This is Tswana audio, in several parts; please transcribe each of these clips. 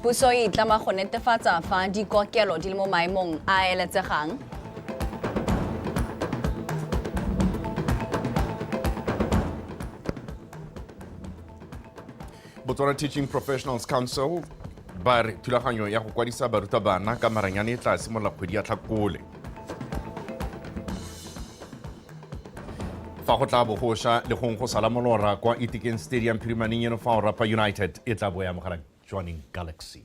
Puso e itlama go netefatsa fa dikokelo di le mo maemong a a eletsegang. Botswana Teaching Professionals Council ba re thulaganyo ya go kwadisa barutabana ka maranyane e tla simolola kgwedi ya tlhakole fa go tla bogosha le gong go sala molora kwa itikeng stadium phirimaneng eno fa o rapa united e tla bo ya mogara joining galaxy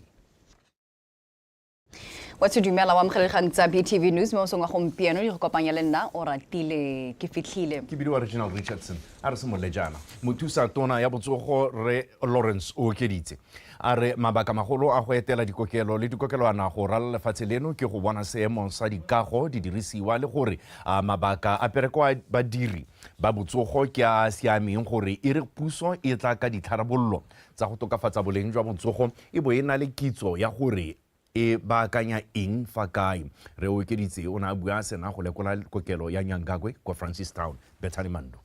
wa se dumela wa mogelekgang tsa btv news mo song wa gompieno le go kopanya le nna o ratile ke fitlhile ke bidiwa regional richardson a re se molejana mothusa tona ya botsogo re lawrence o okeditse A re mabaka magolo a go etela dikokelo le dikokelwana go ralala lefatshe leno ke go bona seemo sa dikago, didirisiwa le gore a mabaka a pereko a badiri ba botsogo ke a a siameng gore e re puso e tla ka ditharabololo tsa go tokafatsa boleng jwa botsogo e bo e na le kitso ya gore e baakanya eng fa kae. Re Okeditse o ne a bua a sena go lekola kokelo ya Nyangagwe kwa Francistown. Bethany Mandu.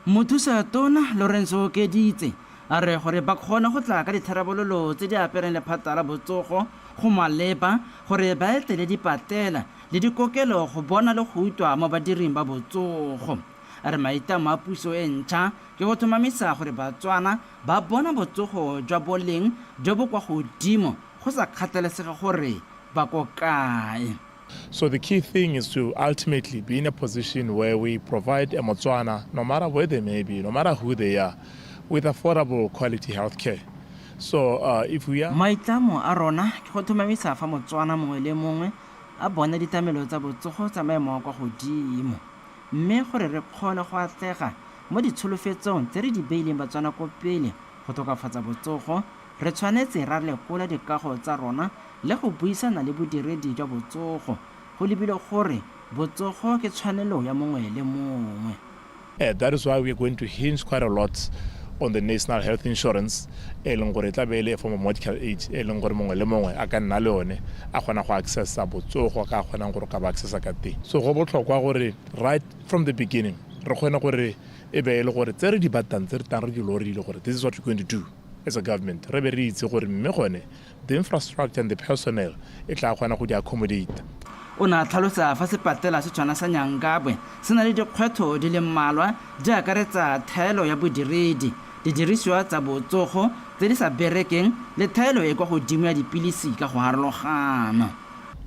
Mothusa Tona Lorenzo Okeditse a re gore ba kgone go tla ka ditharabololo tse di apereng lephata la botsogo, go maleba gore ba etele dipatela le dikokelo go bona le go utlwa mo badiring ba botsogo. A re maitlamo a puso e ntšha ke go tlhomamisa gore Batswana ba bona botsogo jwa boleng jo bo kwa godimo go sa kgathalesege gore ba ko kae. So the key thing is to ultimately be in a position where we provide a Motswana, no matter where they may be, no matter who they are, with affordable quality health care. So uh, if we are... Maitlamo a rona ke go thomamisa fa Motswana mongwe le mongwe a bona ditlamelo tsa botsogo tsa maemo a kwa godimo mme gore re kgone go atlega mo ditsholofetsong tse re di beileng Batswana ko pele go tokafatsa botsogo Re tshwanetse ra lekola dikago tsa rona le go buisana le bodiredi jwa botsogo. Go lebilwe gore botsogo ke tshwanelo ya mongwe le mongwe. That is why we are going to hinge quite a lot on the national health insurance, e leng gore e tla be e le a form of medical aid, e leng gore mongwe le mongwe a ka nna le yone, a kgona go accessa botsogo ka a kgonang gore o ka ba accessa ka teng. So go botlhokwa gore right from the beginning re kgone gore e be e le gore tse re di batlang, tse re tlang re di lorile gore this is what we're going to do, As a government, re be re itse gore mme gone the infrastructure and the personnel e tla kgona go di accommodate. O ne a tlhalosa fa sepatela se tshwana sa Nyangabwe se na le dikgwetho di le mmalwa di akaretsa thaelo ya bodiredi, didirisiwa tsa botsogo tse di sa berekeng le thaelo e kwa godimo ya dipilisi ka go harologana.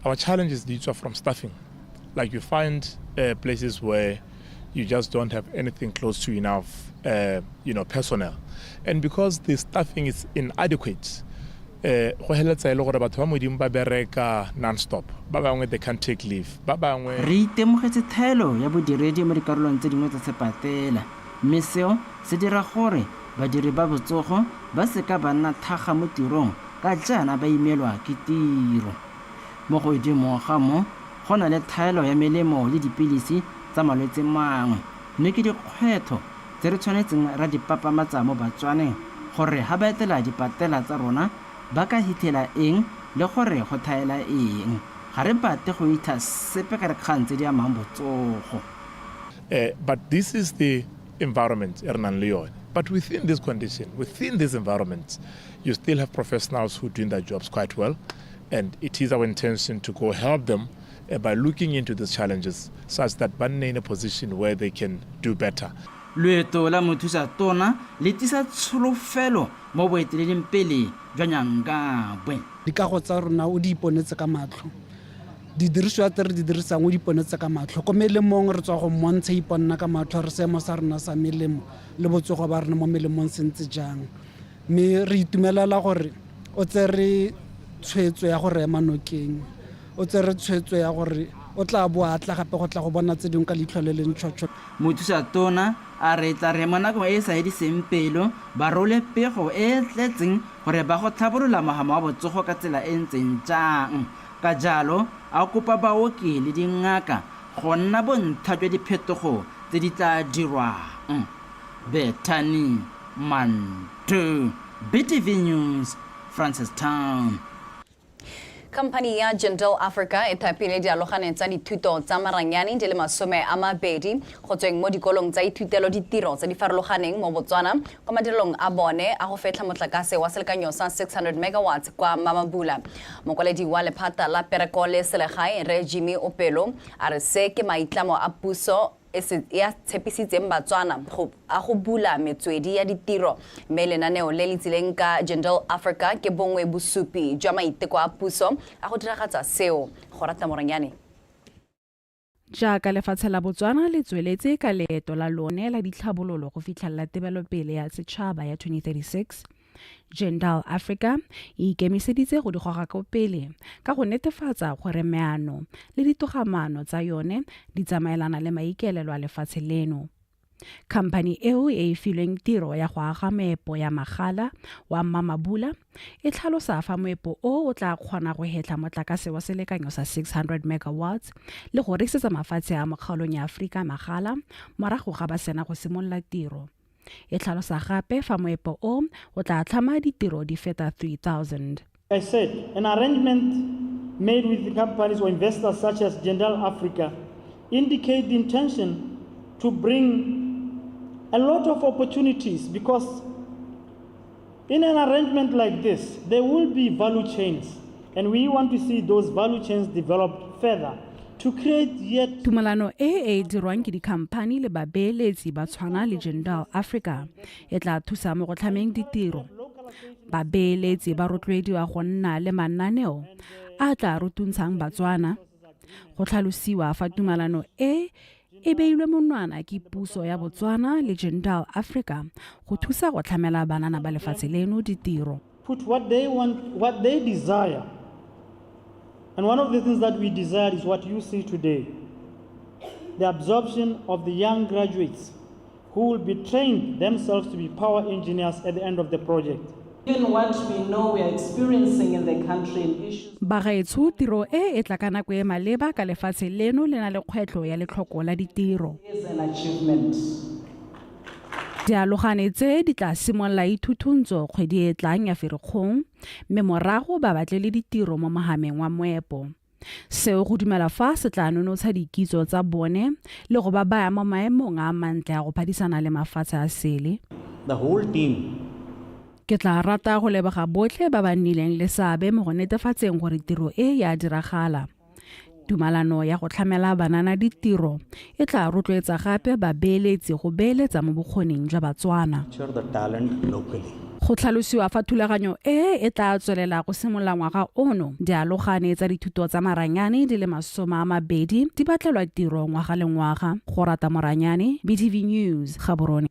Our challenges di tswa from staffing, like you find uh, places where you just don't have anything close to enough, uh, you know, personnel. And because the staffing is inadequate, eh, go heletsa e le gore batho ba modimo ba bereka non-stop ba bangwe they can't take leave ba bangwe re itemogetse thaelo ya bodiredi mo dikarolong tse dingwe tsa sepatela mme seo se dira gore badiri ba botsogo ba seka ba nna thaga mo tirong ka jaana ba imelwa ke tiro mo godimo ga mo Go na le tlhaelo ya melemo le dipilisi tsa malwetse mangwe, mme ke dikgwetho tse re tshwanetseng ra di papamatsa mo Batswaneng gore ha ba etela dipatela tsa rona ba ka hitlhela eng le gore go thaela eng. Ga re batle go itha sepe ka dikgang tse di amang botsogo. But this is the environment e re nang le yone. But within this condition, within these environments, you still have professionals who doing their jobs quite well. and it is our intention to go help them uh, by looking into these challenges such that ba nne in a position where they can do better loeto la mothusa tona le tisa tsholofelo mo boeteleleng pele jwa nyangabwe dikago tsa rona o di iponetse ka matlho didiriswa tse re di dirisang o di iponetse ka matlho ko melemong re tswa go mmontsha iponna ka matlho re seemo sa rona sa melemo le botsogo ba rona mo melemong se ntse jang mme re itumelela gore o tsere tshwetso ya go rema nokeng o tsere tshwetso ya gore o tla bo a tla gape go tla go bona tse dingwe ka leitlho le leng tšhotsho mothusa tona a re tla re mo nakong e e sa ediseng pelo ba role pego e e tletseng gore ba go tlhabolola mogama wa botsogo ka tsela e ntseng jang ka jalo a kopa baoki le dingaka go nna bontsha jwa diphetogo tse di tla dirwang Bethany Mantu, BTV News, Francistown. Khamphani ya Jindal Africa e thapile dialogane tsa dithuto tsa maranyane di le masome a mabedi go tsweng mo dikolong tsa ithutelo ditiro tse di farologaneng mo Botswana kwa madirelong a bone a go fetlha motlakase wa selekanyo sa 600 megawatts kwa Mamabula. Mokwaledi wa lephata la pereko le selegae Rre Jimmy Opelo a re se ke maitlamo a puso e se ya tshepisitseng Batswana go a go bula metswedi ya ditiro mme lenaneo le le tsileng ka Jindal Africa ke bongwe bosupi jwa maiteko a puso a go diragatsa seo. Gorata Morenyane. Jaaka lefatshe la Botswana le tsweletse ka leeto la lone la ditlhabololo go fitlhelela tebelopele ya setšhaba ya 2036, Jendal Africa e ikemiseditse go di goga ko pele ka go netefatsa gore meano le ditogamaano tsa yone di tsamaelana le maikaelelo a lefatshe leno. Khamphani eo e e filweng tiro ya go aga moepo ya magala wa Mamabula e tlhalosa fa moepo o o tla kgona go hetla motlakase wa selekanyo sa 600 megawatts le go rekisetsa mafatshe a mokgaolong ya Afrika magala morago ga ba sena go simolola tiro. E tlhalosa gape fa moepo o o tla tlhama ditiro di feta 3,000. I said, an arrangement made with the companies or investors such as Jindal Africa indicate the intention to bring a lot of opportunities because In an arrangement like this, there will be value chains, and we want to see those value chains developed further to create yet tumalano e e dirwang ke dikhamphani le babeeletsi ba tshwana le jindal africa e tla thusa mo go tlhameng ditiro babeeletsi ba rotloediwa go nna le mananeo a tla rotuntshang batswana go tlhalosiwa fa tumalano e e beilwe monwana ke puso ya botswana le gentile africa go thusa go tlhamela banana ba lefatshe leno ditiro put what they want what they desire and one of the things that we desire is what you see today the absorption of the young graduates who will be trained themselves to be power engineers at the end of the project. Bagaetsho tiro e e tla ka nako e maleba ka lefatshe leno le na le kgwetlho ya letlhoko la ditiro. Dialogane tse di tla simolola ithuthuntsho kgwedi e tlang ya Ferikgong mme morago ba batle le ditiro mo mogameng wa moepo. Seo go dumela fa se tla nonotsha dikitso tsa bone le go ba baya mo maemong a mantle a go phadisana le mafatshe a sele. The whole team Ke tla rata go leboga botlhe ba ba nnileng le seabe mo go netefatseng gore tiro e ya diragala. Tumalano ya go tlhamela banana ditiro e tla rotloetsa gape babeeletsi go beeletsa mo bokgoning jwa Batswana. Go tlhalosiwa fa thulaganyo e e tla tswelela go simolola ngwaga ono, dialogane tsa dithuto tsa maranyane di le masoma a mabedi di batlelwa tiro ngwaga le ngwaga. Go rata Moranyane, BTV News, Gaborone.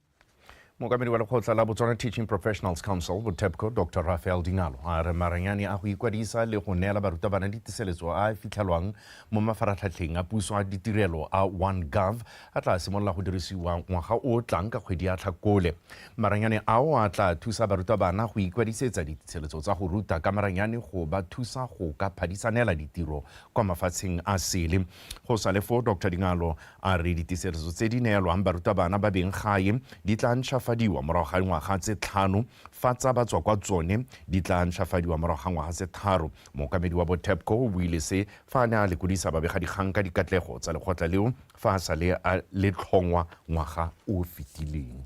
mookamedi wa lekgotla la botswana teaching professionals council botepco dr rafael dinalo a re maranyane a go ikwadisa le go neela barutabana ditiseletso a a fitlhelwang mo mafaratlhatlheng a puso a ditirelo a one gov a tla simolola go dirisiwa ngwaga o tlang ka kgwedi ya tlhakole maranyane ao a tla thusa barutabana go ikwadisetsa ditiseletso tsa go ruta ka maranyane go ba thusa go ka phadisanela ditiro kwa mafatsheng a sele go sa le foo dr dinalo A re diteserezo tse di neelwang barutabana ba beng gae di tla ntšhafadiwa morago ga dingwaga tse tlhano fa tsa ba tswa kwa tsone di tla ntšhafadiwa morago ga ngwaga tse tharo. Mookamedi wa Botepco o buile se fa a ne a lekodisa babegadikgang ka dikatlego tsa lekgotla leo fa a sa le a le tlhongwa ngwaga o o fetileng.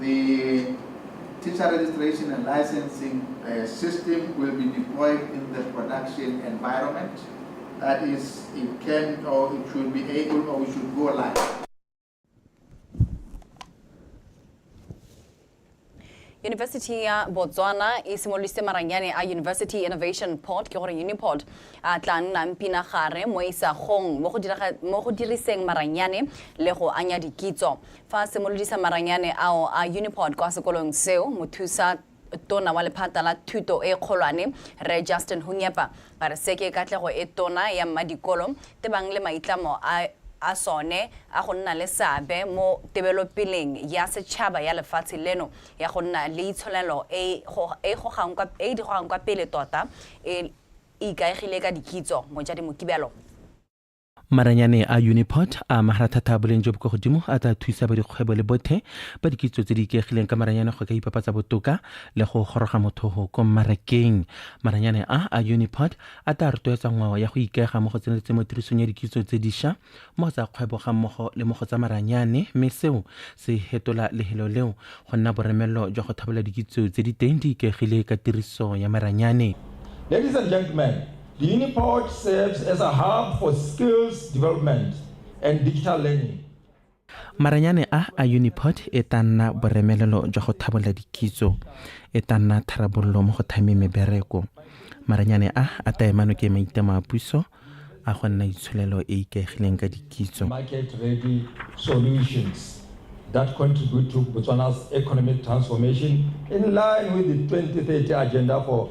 The teacher registration and licensing uh, system will be deployed in the production environment. That is, it can or it should be able or it should go live. yunibesithi ya botswana e simolodisitse maranyane a university innovation port ke gore uniport a tla nnang pinagare mo isagong mo go diriseng maranyane le go anya dikitso Fa a simolodisa maranyane ao a Unipod kwa sekolong seo, mothusa tona wa lephata la thuto e kgolwane, Rre Justin Hunyepa, a re se ke katlego e tona ya mmadikolo tebang le maitlamo a a sone a go nna le seabe mo tebelopeleng ya setšhaba ya lefatshe leno ya go nna le itsholelo e e gogang kwa pele tota e ikaegile ka dikitso. Mojadi Mokibelo. maranyane a uniport a magara thata a boleng jo bo kwa godimo a tla thusa ba dikgwebo le bothe ba dikitso tse di ikaegileng ka maranyane go ka ipapatsa botoka le go goroga motho go ko mmarakeng maranyane a a uniport a tla rotloetsa ngwao ya go ikaega mo go tseneletse mo tirisong ya dikitso tse diša mo go tsa kgwebo ga mmogo le mo go tsa maranyane mme seo se hetola lehelo leo go nna boremelelo jwa go thabola dikitso tse di teng di ikaegile ka tiriso ya maranyane Ladies and gentlemen, Uniport serves as a hub for skills development and digital learning. Maranyane a a Uniport e tla nna boremelelo jwa go thabolla dikitso, e tla nna tharabololo mo go thameng mebereko. Maranyane a a tla ema nokeng maitlamo a puso a go nna itsholelo e e ikaegileng ka dikitso. market ready solutions that contribute to Botswana's economic transformation in line with the 2030 agenda for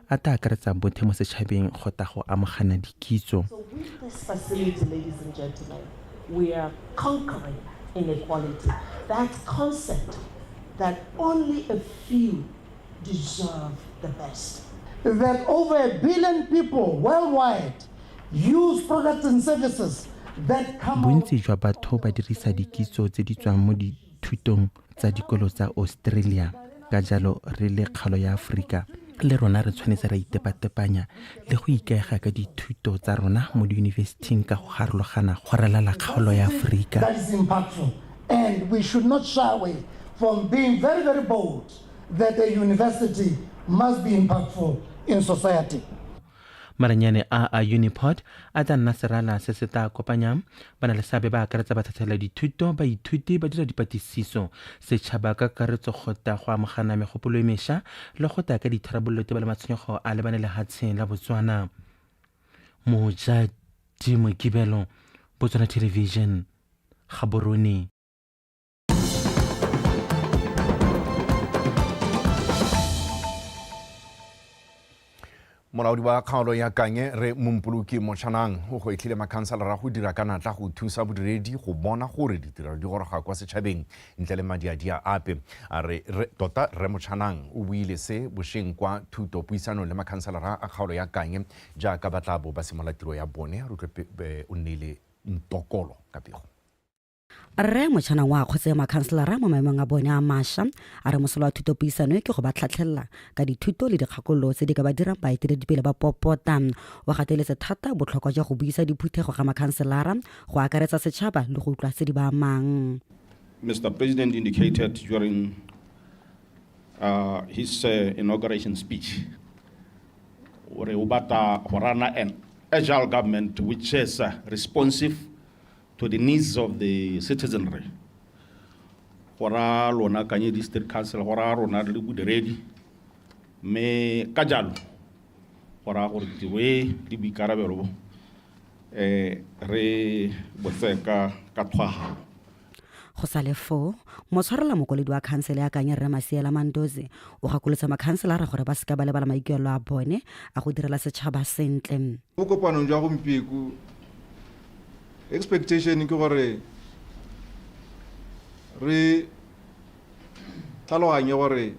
a tla akaretsang bothe mo setšhabeng go ta go amogana dikitso. Bontsi jwa batho ba dirisa dikitso tse di tswang mo dithutong tsa dikolo tsa Australia. Ka jalo re le kgalo ya Aforika le rona re tshwanetse ra itepatepanya le go ikaega ka dithuto tsa rona mo diyunibesithing ka go garologana go ralala kgaolo ya Aforika. And we should not shy away from being very, very bold that a university must be impactful in society. Maranyane a a Uniport a tla nna serala se se tla kopanyang ba na le seabe ba akaretsa batlhatlhela dithuto baithuti ba dira dipatlisiso setšhaba ka kakaretso gota go amogana megopolo e mesha le go taya ka ditharabololo teba le matshwenyego a lebane le hatsheng la botswana mojadi mokibelo botswana television gaborone molaodi wa kgaolo ya kanye re mompoloki motšhanang o go etlhile makhanselara go dira ka natla go thusa bodiredi go bona gore ditirelo di goroga kwa setšhabeng ntle le madiadia ape a re tota re motšhanang o buile se bošeng kwa thuto puisanong le makhanselara a kgaolo ya kanye jaaka ba tla bo ba simolola tiro ya bone re utlwe o nneile ntokolo ka pego rre motšhanang wa kgotse makhanselara mo maemong a bone a masha a re mosola wa thuto puisano e ke go ba tlhatlhelela ka dithuto le dikgakololo tse di ka ba dirang baeteledipele ba popota wa gateletse thata botlhokwa jwa go buisa diphuthego ga makhanselara go akaretsa setšhaba le go utlwa tse di ba amang Mr. President indicated during uh, his uh, inauguration speech gore o batla go rana an agile government which is uh, responsive to the needs of the citizenry go ra lona kanye district council go ra rona le bodiredi mme ka jalo go raya gore tiro e le boikarabelo bo um re botsee ka tshwagalo go sa le foo motshwarela mokwaledi wa khansele ya kanye rre maseela mandoze o gakolotswa makhanselara gore ba seka ba lebala maikuelo a bone a go direla setšhaba sentle mo kopanong jwa gompieko expectation ke gore re tlhaloganye gore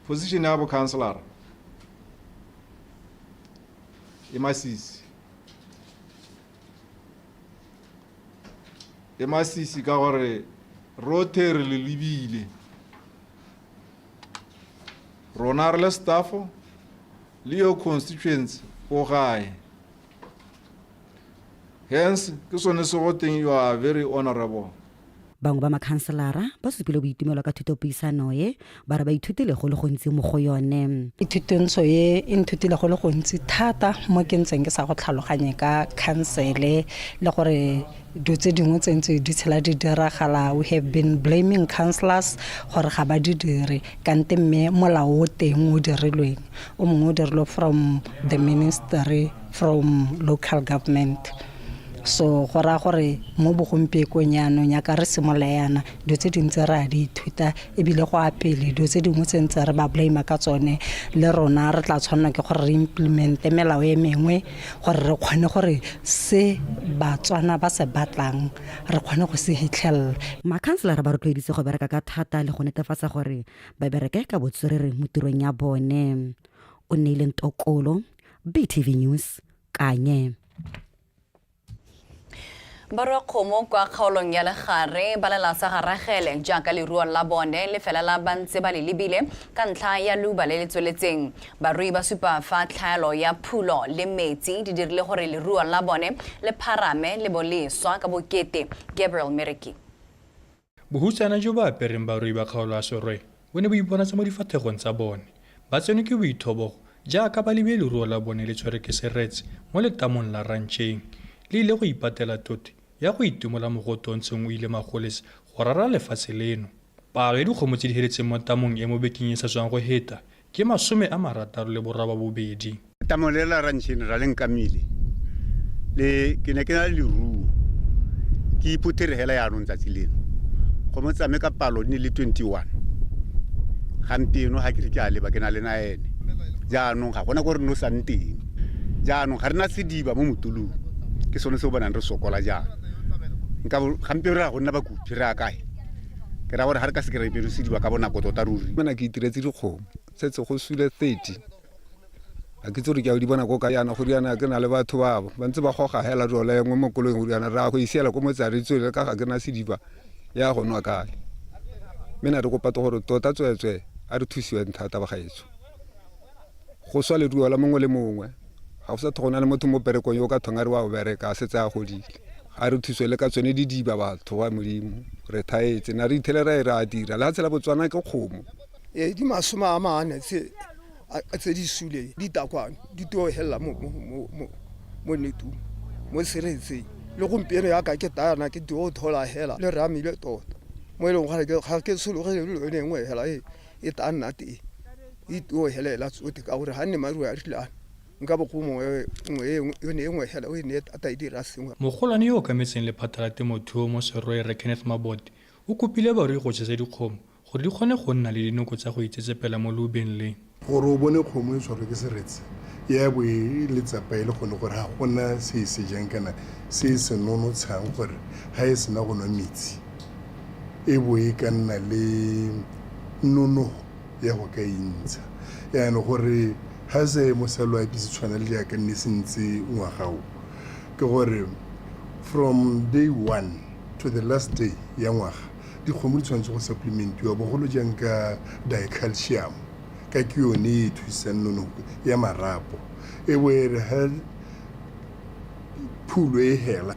position ya bo counselor e masisi e masisi ka gore rothe re le lebile rona re le staffo le your constituency o gae hence ke sone se go teng you are very honorable bangwe ba makhanselara ba supile boitumelo ka thutopuisano e ba re ba ithutile go le gontsi mo go yone ithutentsho e e nthutile go le gontsi thata mo ke ntseng ke sa go tlhaloganye ka khansele le gore dilo tse dingwe tse ntse di tshela di diragala we have been blaming councillors gore ga ba di dire kante mme molao o teng o dirilweng o mongwe o dirilwe from the ministry from local government so go raya gore mo bogompiekong yaanong yaka re simolola yana dilo tse dintse re a di ithuta ebile go a pele dilo tse dingwe tse ntse re ba blame ka tsone le rona re tla tshwanela ke gore re implemente melao e mengwe gore re kgone gore se batswana ba se batlang re kgone go se hitlhelela makhanselara ba rotloeditse go bereka ka thata le go netefatsa gore ba bereke ka botswerere mo tirong ya bone o neileng tokolo btv news kanye Barwakgomo kwa kgaolong ya Legare ba lela sa ga Ragele jaaka leruo la bone le felela ba ntse ba le lebile ka ntlha ya luba le le tsweletseng. Barui ba supa fa tlhaelo ya phulo le metsi di dirile gore leruo la bone le pharame le bo le swa ka bokete. Gabriel Mereki. Bohutsana jo bo apereng barui ba kgaolo ya Sorwe bo ne bo iponatsa mo difathegong tsa bone. Ba tsenwe ke boithobogo jaaka ba lebile leruo la bone le tshwerwe ke seretse mo letamong la rantšheng. Le ile go ipatela tote ya go itimola mogote o ntseng o ile magolese go rara lefatshe leno. Palo ya dikgomo tse di heletseng mo tamong e mo bekeng e e sa tswang go heta Ke masome a marataro le borababobedi. Tamolela Rantšheng Rra Lenkamile le ke ne ke na le leruo ke iphuthege hela yaanong tsatsi leno go mo tsame ka palo ne le 21 gampieno ga ke re ke a leba ke na le na ene jaanong ga gona ko re no sang teng jaanong ga re na sediba mo motulong ke sone se o bonang re sokola jaana nka gampieno re ya go nna bakupi re ya kae ke ra gore ga re ka se kry beresediwa ka bonako tota ruri mena ke itiretse dikgomo setse go sule 30 a ke tse gore ke a di bona ko ka yana go riana ke na le batho babo ba ntse ba goga hela jole nngwe mo kolong go riana ra go isiela ko motsare tswele ka ga ke na sediba ya go nwa kae mme na re kopa to gore tota tsweetswee a re thusiweng thata bagaetso go swa leruo la mongwe le mongwe ga go sa tlhogo na le motho mo berekong yo o ka thong a re wa go bereka a setse a godile a re thuswe le ka tsone didiba batho wa modimo re thaetse na re ithelela e re a dira le ga tshela botswana ke kgomo ee di masome a mane tse di suleng ditakwane di teo helela mo netung mo seretseng le gompieno yaka ke tayana ke teo thola hela le ramile tota mo e leng gore ga ke sologele le yone nngwe hela ee e tla nna teng e tuo helela tsote ka gore ga nne maruo a rilana nka bo go mongwe nngwe e nngwe yone e nngwe hela o e ne tata e dira sengwe Mogolwane yo o kametseng lephata la temothuo mo Serwe Rre Kenneth Mabote o kopile barui go jesa dikgomo gore di kgone go nna le dinoko tsa go itsetsepela mo loubeng le. Gore o bone kgomo e tshwarwe ke seretse ya bo e le tsapa e le gone gore ga gona se e sejang kana se e se nonotshang gore ga e sena go nwa metsi. e bo e ka nna le nonogo ya go ka intsha yaanong gore ga se mosalo a ipise tshwana le jaaka nne se ntse ngwagao ke gore from day one to the last day ya ngwaga dikgomo di tshwanetse go supplementiwa bogolo jang ka dicalcium ka ke yone e thusang nonogo ya marapo e bo e re phulo e hela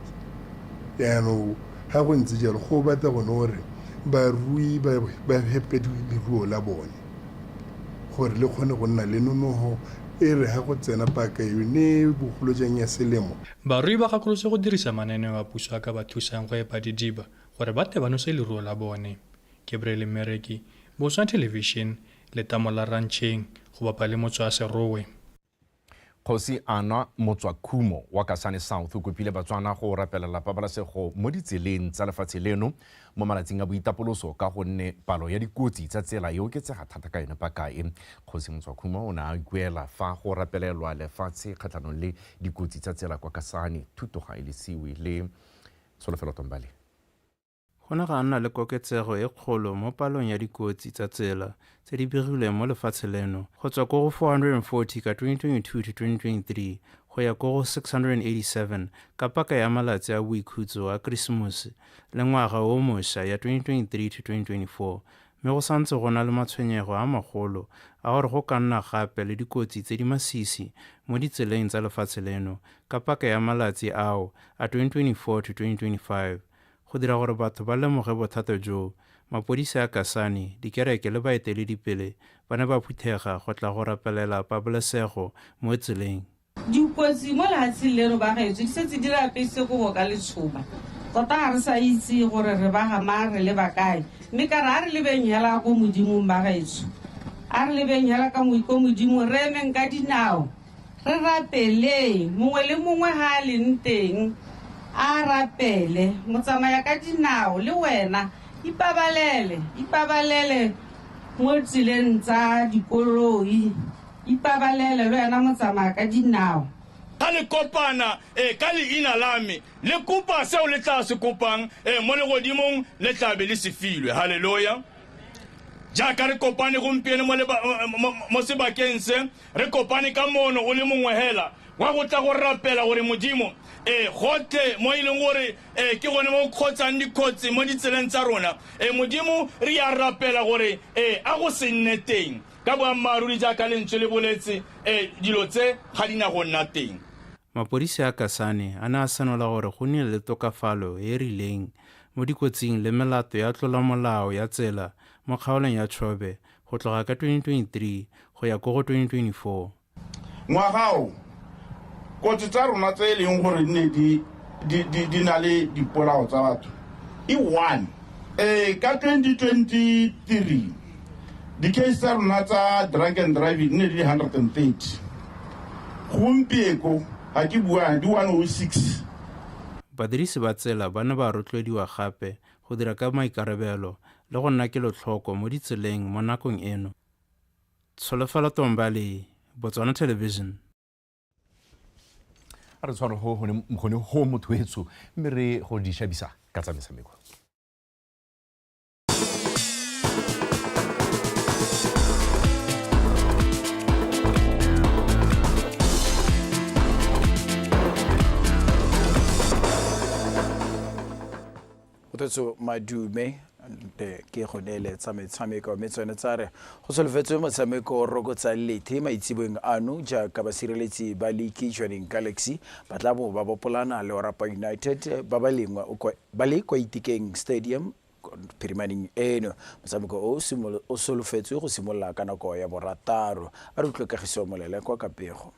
yaanong ga go ntse jalo go batla gone gore barui ba hepe leruo la bone gore le kgone go nna le nonogo e re ga go tsena paka yone bogolo jang ya selemo barui ba gakolotse go dirisa mananeo a puso a ka ba thusang go epa didiba gore ba tle ba nose leruo la bone gabriele mmereki boswa television letamo la rantšheng go bapa le motswaserowe Kgosi Anwa Motswakhumo wa Kasane South o kopile Batswana go rapelela pabalesego mo ditseleng tsa lefatshe leno mo malatsing a boitapoloso ka gonne palo ya dikotsi tsa tsela e oketsega thata ka yone paka e. Kgosi Motswakhumo o ne a ikuela fa go rapelelwa lefatshe kgatlhanong le dikotsi tsa tsela kwa Kasane. Thuto ga e lesiwe le Tsholofelo Tombale. Go ne ga nna le koketsego e kgolo mo palong ya dikotsi tsa tsela tse di begilweng mo lefatshe leno go tswa ko go 440 ka 2022 to 2023 go ya ko go 687 ka paka ya malatsi a boikhutso a Kerisemose le ngwaga o moša ya 2023 to 2024 mme go santse go na le matshwenyego a magolo a gore go ka nna gape le dikotsi tse di masisi mo ditseleng tsa lefatshe leno ka paka ya malatsi ao a 2024 to 2025. Go dira gore batho ba lemoge bothata jo, mapodisi a Kasane, dikereke le baeteledipele ba ne ba phuthega go tla go rapelela pabalesego mo tseleng. Dikotsi mo lehatsheng leno bagaetsho di setse di re apeisitse kobo ka letshoba. Tota ga re sa itse gore re baga mang, re leba kae. Mme ka re a re lebeng hela ko Modimong bagaetsho. A re lebeng hela ko Modimong, re emeng ka dinao. Re rapeleng, mongwe le mongwe fa a leng teng a rapele. Motsamaya ka dinao, le wena ipabalele. Ipabalele mo tseleng tsa dikoloi. Ipabalele le wena motsamaya ka dinao. Ga le kopana ka Leina la Me, le kopa seo le tlaa se kopang mo Legodimong, le tlaa be le se filwe. Haleloya! Jaaka re kopane gompieno mo, mo, mo sebakeng se, Re kopane ka moono o le mongwe hela wa go tla go rapela gore Modimo, ee, gotlhe mo e leng gore ee, ke gone mo go kgotsang dikgotsi mo ditseleng tsa rona. Ee, Modimo, re a rapela gore ee, a go se nne teng. Ka boammaaruri jaaka lentswe le boletse, ee, dilo tse ga di na go nna teng. Mapodisi a Kasane a ne a senola gore go nnile le tokafalo e e rileng mo dikotsing le melato ya tlolomolao ya tsela mo kgaolong ya Chobe go tloga ka 2023 go ya ko go 2024. Ngwaga o, kotsi tsa rona tse e leng gore di ne di di di di na le dipolao tsa batho e one eh ka 2023 di-case tsa rona tsa drug and driving ne di le 130 gompieko ga ke bua di 106 badirisi ba tsela ba ne ba rotloediwa gape go dira ka maikarabelo le go nna kelotlhoko mo ditseleng mo nakong eno. Tsholofelo Tombali, Botswana Television. a re tshwaro go gone gone go motho etsho mme re go di shabisa ka tsa metshameko Kgothatso Madume nte ke go neeletsa metshameko mme tsone tsa re go solofetswe motshameko o rokotsa lethe maitseboeng ano jaaka basireletsi ba liki joining galaxy ba tla bo ba bopolana le orapa united ba ba lengwe ba le kwa itikeng stadium phirimaneng eno motshameko o o solofetswe go simolola ka nako ya borataro a re utlwe kagiso molele kwa kapego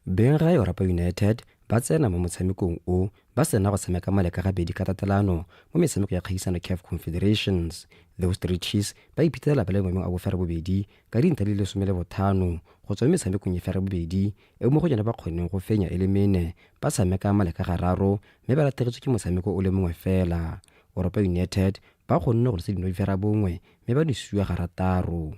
beng ga Europa United ba tsena mo motshamekong o ba sena go tshameka male ka gabedi ka tatelano mo metshameko ya kgaisano CAF Confederations. Those Three Cheese ba iphitlhela ba le maemong a bofere bobedi ka dintlha di le some le bothano go tswa mo metshamekong e fere bobedi e mo go yone ba kgonneng go fenya e le mene ba tshameka male ka gararo mme ba latlhegetswe ke motshameko o le mongwe fela. Europa United ba kgonne go losa dino di fera bongwe mme ba nosiwa garataro.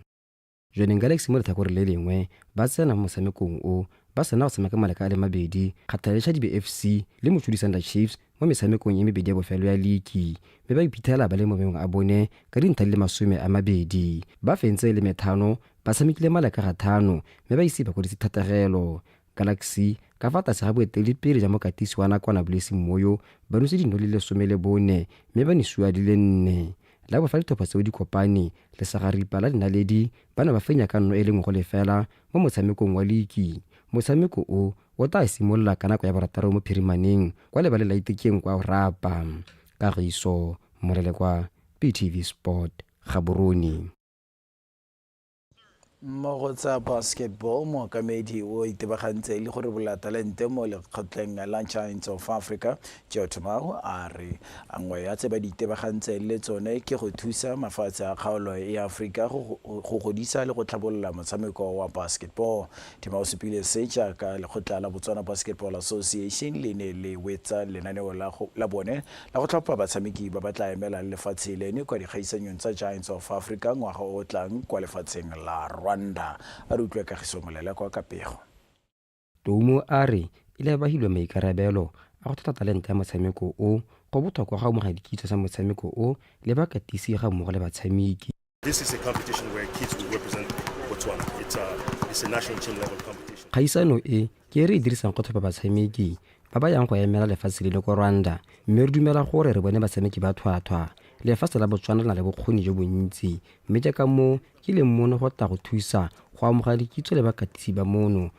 Jwaneng Galaxy mo letlhakoreng le lengwe ba tsena mo motshamekong o ba sena go tshameka maleka a le mabedi kgaptha le Chadibe FC le Mochudi Sanda Chiefs mo metshamekong e mebedi ya bofelo ya liki mme ba iphitlhela ba le mo mengweng a bone ka dintlha di le masome a mabedi. Ba fentse e le methano ba tshamekile maleka ga thano mme ba ise ba kwadise thatagelo. Galaxy, ka fa tlase ga boeteledipele ja mokatisi wa nakwana Blessing Moyo, ba nose dino le lesome le bone mme ba nesuwa di le nne. La bo fa ditlhopha tseo di kopane, lesagaripa la dinaledi ba ne ba fenya ka nno e le nngwe go lefela mo motshamekong wa liki. Motshameko o, o tlaa simolola ka nako ya borataro mo phirimaneng kwa lebaleng la Itekeng kwa Orapa. Kagiso Molelekwa, BTV Sport, Gaborone. Mo go tsa basketball mookamedi o itebagantse le gore bolatalente mo lekgotleng la giants of africa joe tomao a re a nngwe ya tse ba di itebagantseng le tsone ke go thusa mafatshe a kgaolo ya aforika go go godisa le go tlhabolola motshameko wa basketball thema o supile se jaaka lekgotla la botswana basketball association le ne le wetsa lenaneo la go- la bone la go tlhopha batshameki ba ba tla emelang lefatshe lene kwa dikgaisanyong tsa Giants of Africa ngwaga o o tlang kwa lefatsheng la Rwanda. A re utlwa Kagiso Molelekwa ka pego. Toumo a re e le ba hilwe maikarabelo a go thotha talente ya motshameko o, go botlhokwa go amogela dikitso tsa motshameko o le bakatisi ga mmogo le batshameki. Kgaisano e ke e re e dirisang go tlhopha batshameki ba ba yang go emela lefatshe le le ko Rwanda mme re dumela gore re bone batshameki ba tlhwatlhwa. Lefatshe la Botswana le na le bokgoni jo bontsi mme ke ka moo ke leng mono go tla go thusa go amogela dikitso le bakatisi ba mono,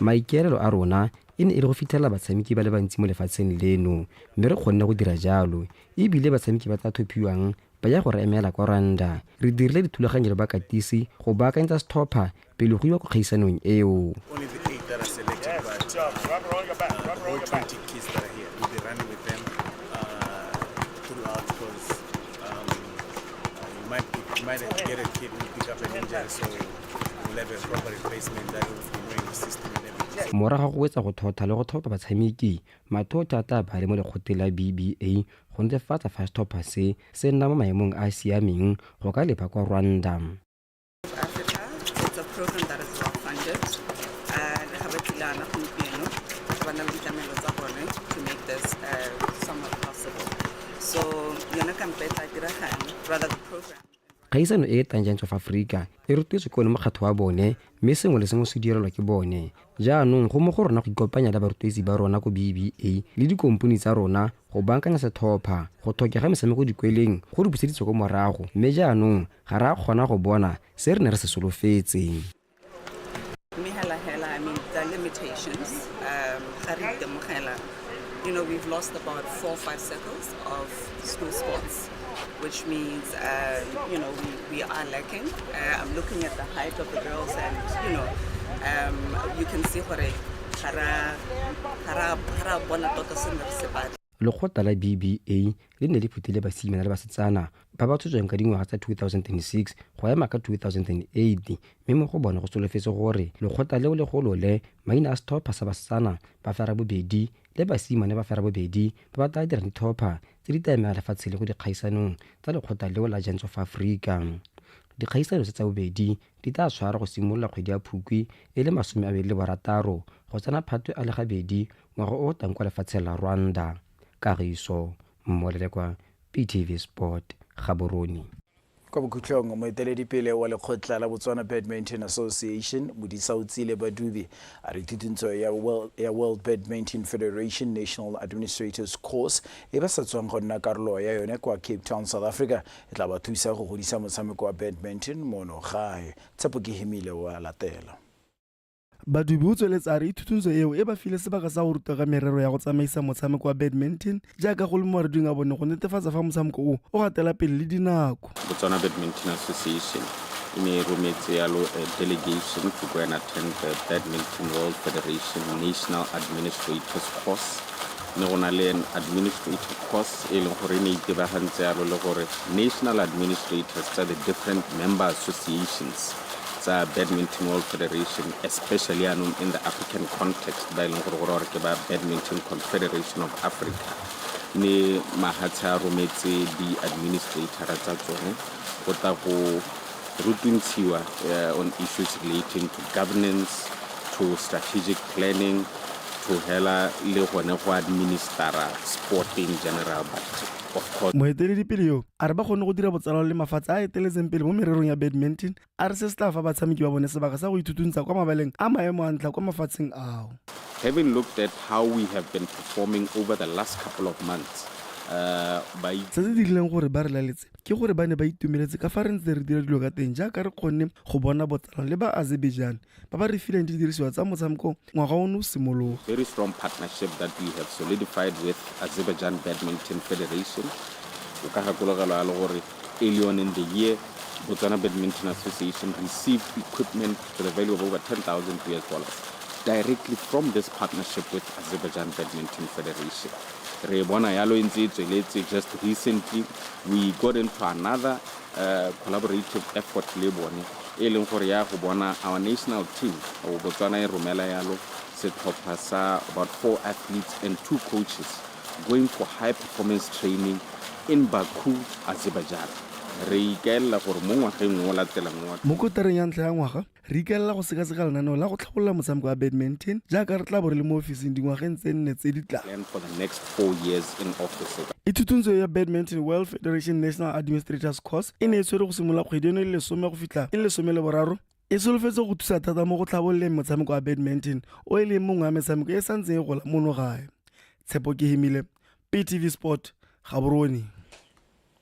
Maikaelelo a rona e ne e le go fitlhelela batshameki ba le bantsi mo lefatsheng leno, mme re kgonne go dira jalo. E bile batshameki ba tla thophiwang ba ya go re emela kwa Rwanda. Re dirile dithulaganyo le bakatisi go baakanyetsa setlhopha pele go iwa kwa kgaisanong eo. Morago ga go wetsa go thotha le go tlhopha batshameki, Mathotha a tla ba le mo lekgotleng la BBA go netefatsa fa setlhopha se se nna mo maemong a a siameng go ka leba kwa Rwanda. Kgaisano e e tlang Giants of Africa e rotetswe ke one mokgatlho wa bone mme sengwe le sengwe se direlwa ke bone. Jaanong go mo go rona go ikopanya le barotloetsi ba rona ko BBA le dikompone tsa rona go bankanya setlhopha. Go tlhokega metshameko dikweleng go re buseditse ko morago mme jaanong ga re a kgona go bona se re ne re se solofetse. Mme hela hela, I mean, the limitations, um, ga re itemogela, you know, we've lost about four or five circles of school sports, which means, uh, you know, we, we are lacking. Uh, I'm looking at the height of the girls and, you know, um, you can see gore ga ra- ga ra- ga ra bona tota se ne re se batla. Lekgotla la BBA le ne le phutile basimane le basetsana ba ba tshotsweng ka dingwaga tsa 2006 go ema ka 2008 mme mo go bone go solofetse gore lekgotla leo le golole maina a setlhopha sa basetsana ba ferabobedi le basimane ba ferabobedi ba ba tla dirang ditlhopha tse di tla emela lefatshe le go dikgaisanong tsa lekgotla leo la Giants of Africa. Dikgaisano tse tsa bobedi Di tla tshwarwa go simolola kgwedi ya Phukwi e le masome a mabedi le borataro go tsena Phatwe a le gabedi ngwaga o o tlang kwa lefatsheng la Rwanda. Kagiso Mmolelekwa, PTV Sport, Gaborone. Kwa bokhutlong, moeteledipele wa lekgotla la Botswana Badminton Association, Modisaotsile Badubi, a re thutuntsho ya World, ya World Badminton Federation National Administrators Course e ba sa tswang go nna karolo ya yone kwa Cape Town, South Africa, E tla ba thusa go godisa motshameko wa badminton mono gae. Tshepo ke himile o a latela. Badubi o tsweletse a re ithutuntsho eo e ba file sebaka sa go ruta ka merero ya go tsamaisa motshameko wa badminton jaaka go le mo mareding a bone go netefatsa fa motshameko o o gatela pele le dinako. Botswana Badminton Association e ne e rometse yalo a delegation to go and attend the Badminton World Federation National Administrators Course ne go na le an administrative course e leng gore e ne itebagantse yalo le gore national administrators tsa the different member associations tsa badminton world federation especially yaanong in the african context ba e leng gore gore gore ke ba badminton confederation of africa ne mahatshe a rometse di-administratora tsa tsone go tla go Rutuntshiwa uh, on issues relating to governance to strategic planning to hela le gone go administera sport in general but moeteledipele yo a re ba kgone go dira botsalano le mafatshe a eteletseng pele mo mererong ya badminton a re se se tla fa batshameki ba bone sebaka sa go ithutuntsa kwa mabaleng a maemo a ntlha kwa mafatsheng ao having looked at how we have been performing over the last couple of months uh, se se dirileng gore ba re laletse ke gore ba ne ba itumeletse ka fa re ntse re dira dilo ka teng jaaka re kgonne go bona botsalano le ba azerbaijan ba ba re fileng didirisiwa tsa motshameko ngwaga o ne o simologa very strong partnership that we have solidified with azerbaijan badminton federation o ka gakologelwa ya le gore early on in the year botswana badminton association received equipment to the value of over 10,000 us dollars directly from this partnership with azerbaijan badminton federation Re e bona yalo e ntse e tsweletse just recently we got into another uh, collaborative effort le bone e leng gore ya go bona our national team o botswana e romela yalo setlhopha sa about four athletes and two coaches going for high performance training in baku azerbaijan re ikaelela gore mo ngwageng o latelang wa mo kotareng ya ntlha ya ngwaga Re ikaelela go sekaseka lenaneo la go tlhabolola motshameko wa badminton jaaka re tla bo re le mo ofising dingwageng tse nne tse di tlang. Ithutuntsho ya Badminton World Federation National Administrators Course e ne e tshwere go simolola kgwedi eno e le lesome go fitlha e le lesome le boraro e solofetse go thusa thata mo go tlhabololeng motshameko wa badminton o e leng mongwe wa metshameko e sa ntseng e gola mono gae tshepo ke hemile ptv sport gaborone